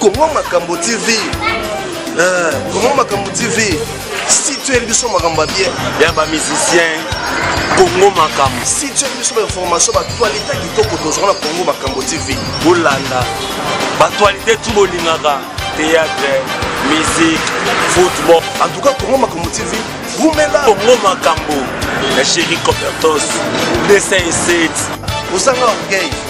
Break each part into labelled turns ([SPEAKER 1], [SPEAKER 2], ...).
[SPEAKER 1] Congo
[SPEAKER 2] Makambo TV eh, Congo Makambo TV si tu es biso makambo ya bien ya ba musicien
[SPEAKER 1] Congo Makambo si tu es biso ba
[SPEAKER 2] information ba actualité kitoko tozwa na Congo Makambo TV bolanda
[SPEAKER 1] ba actualité tout bolingaka théâtre musique football en tout cas Congo
[SPEAKER 2] Makambo TV wumela Congo Makambo
[SPEAKER 1] na chéri Copertos 207 osanga
[SPEAKER 2] orgueil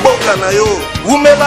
[SPEAKER 2] mboka na yo wumela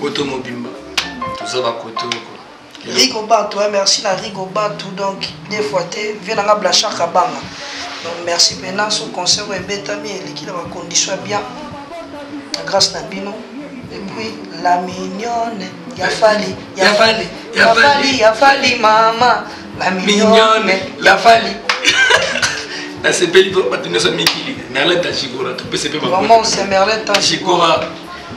[SPEAKER 3] poto mobimba
[SPEAKER 4] toza
[SPEAKER 3] bakoto oko
[SPEAKER 4] rigo batu eh, merci na rigo batu donc deux fois te vie nanga blanchard kabanga donc merci mpena so concert oyo ebetami eleki na bacondition ya bien na grâce na bino epuis la mignonne ya fali ya fali ya fali ya fali mama la mignonne ya fali
[SPEAKER 3] nasepeli mpo bato nyonso mikili merleta jigora topese mpe mamosemerleta
[SPEAKER 4] jigora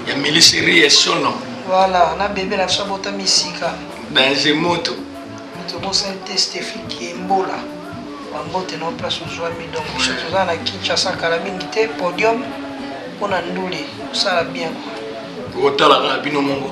[SPEAKER 3] ya miliseri ya sono voilà na bebe
[SPEAKER 4] na biso abotami esika dange moto
[SPEAKER 3] moto bosani
[SPEAKER 4] te stephi kiembola bambote na place ozwami donc biso toza na kinshasa kala mingi te podium mpo na ndule osala bien otalaka
[SPEAKER 3] bino mongo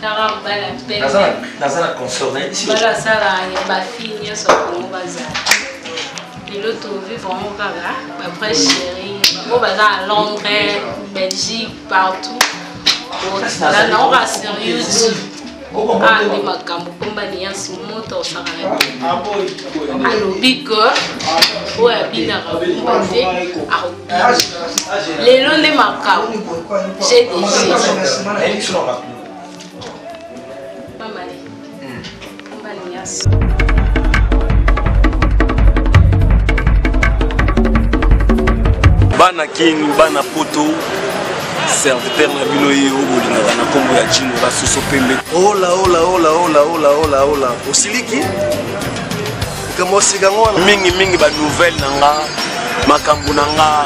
[SPEAKER 5] Tara mobali ya pembe. Naza na naza na confort na yebisi. Mobali asala ya ba fille nyonso ya Congo bazala. Lelo to vivre yango kaka ba vrai chérie. Bango baza à Londres, Belgique, partout. Ozala na oka sur YouTube. Ah, nde makambo komba liyansi moto osaka na alobi ke oyo abinaka kumba te lelo nde makambo je dege
[SPEAKER 1] bana king bana poto serviteur na bino ye oyo bolingaka na nkombo ya jino basoso pembe
[SPEAKER 2] olaolaolaolaolaolaola osiliki mingi mingi ba nouvelle
[SPEAKER 1] na nga makambo na nga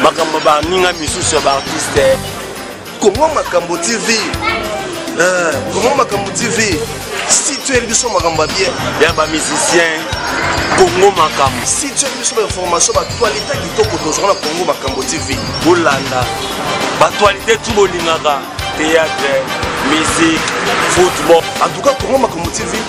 [SPEAKER 1] makambo baninga misusu ya baartiste kongo
[SPEAKER 2] makambo tv eh, kongo makambo tv situeli biso makambo ya bien ya bamusicien
[SPEAKER 1] kongo makambo situeli biso
[SPEAKER 2] bainformation batualite kitoko tozwa na kongo makambo tv bolanda
[SPEAKER 1] batualite tu bolingaka théâtre musique football en tout cas kongo
[SPEAKER 2] makambo tv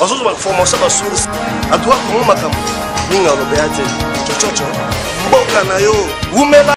[SPEAKER 2] bazozwa bainformation ba source atuka kongo makambo mingi alobea te cococo mboka na yo wumela